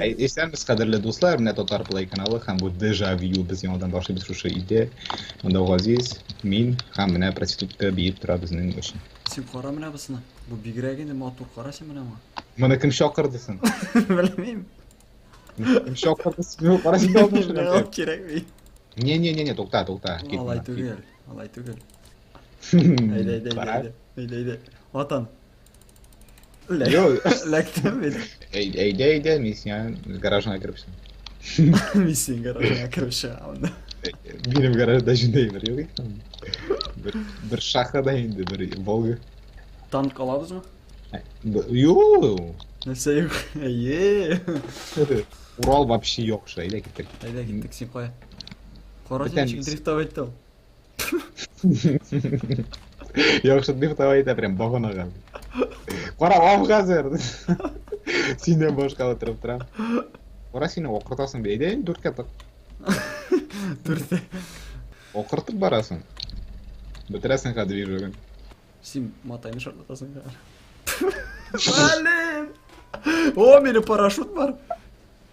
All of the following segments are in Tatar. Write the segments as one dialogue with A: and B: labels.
A: Исәнбез, кадерле дуслар, менә Татар Плей каналы һәм бу Дежавю без яңадан башлыйбыз шушы өйдә. Монда Газиз, мин һәм менә проститутка биеп тора безнең өчен. Син кара менә бусына.
B: Бу бигрәк инде матур кара син менә моңа. Моны кем чакырды
A: соң? Белмим.
B: Кем
A: чакырды син? Кара син дә алмашын. Миңа кирәкми.
B: Не, не, не, не, тукта,
A: тукта. Алай түгел,
B: алай түгел. Әйдә, әйдә, әйдә. Әйдә, әйдә. Атан.
A: Ләк- Йой. Ләктем мин.
B: Әй- Әйдә, әйдә,
A: мин сиңа гаражыңа кереп чыгам. Мин
B: синең гаражыңа кереп чыгамын да.
A: Минем гаражда җиндәй бер юк икән. Бер, бер шаха да инде, бер Волга. Танк
B: алабызмы? Б-
A: Юу! Нәрсә
B: юк? Әйе.
A: Урал вообще юк, шо, әйдә киттек. Әйдә киттек, син кая?
B: Кара Бетәм. син ничек дрифтовать итә ул?
A: Яхшы дип давай итә прям баганага. Кара ам хәзер. Синнән башка утырып торам. Кара сине окыртасың бит. Әйдә инде дүрткә тык.
B: Дүрткә.
A: Окыртып барасың. Бетерәсең хәзер движогын. Син
B: матайны шартлатасың да. Блин! О, менә парашют бар.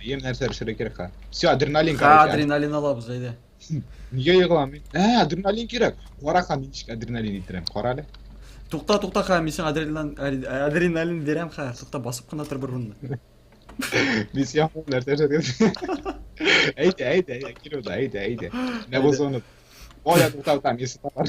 A: Әйе, нәрсә пешерә кирәк ха? Все, адреналин Ха, короче. адреналин алабыз, әйдә.
B: Нигә
A: егламый? Ә, адреналин кирәк. Кара ха, мин ничек адреналин итерәм, кара әле. Тукта, тукта
B: ха, мин сиңа адреналин, ари- адреналин бирәм ха. Тукта, басып кына тор бер урында.
A: Мин сиңа ул нәрсә эшләдем. Әйдә, әйдә, әйдә, кил уда, әйдә, әйдә. Менә бу Әйдә. зона. Оля, туктау там, если тапар.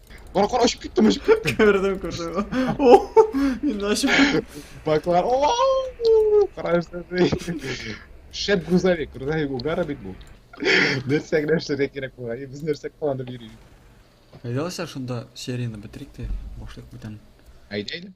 A: Кара кара очып киттем очып киттем. Күрдем, күрдем.
B: О, Мин ачып кеттем. Баклар.
A: Оу! Кара эшләде. Шәп грузовик, грузовик угара бит бу. Нәрсә генә эшләргә кирәк була. И, Без нәрсә кыланып йөрибез.
B: Әйдә алайса
A: шунда
B: серияне
A: бетерик тә
B: башлыйк
A: бүтән.
B: Әйдә әйдә.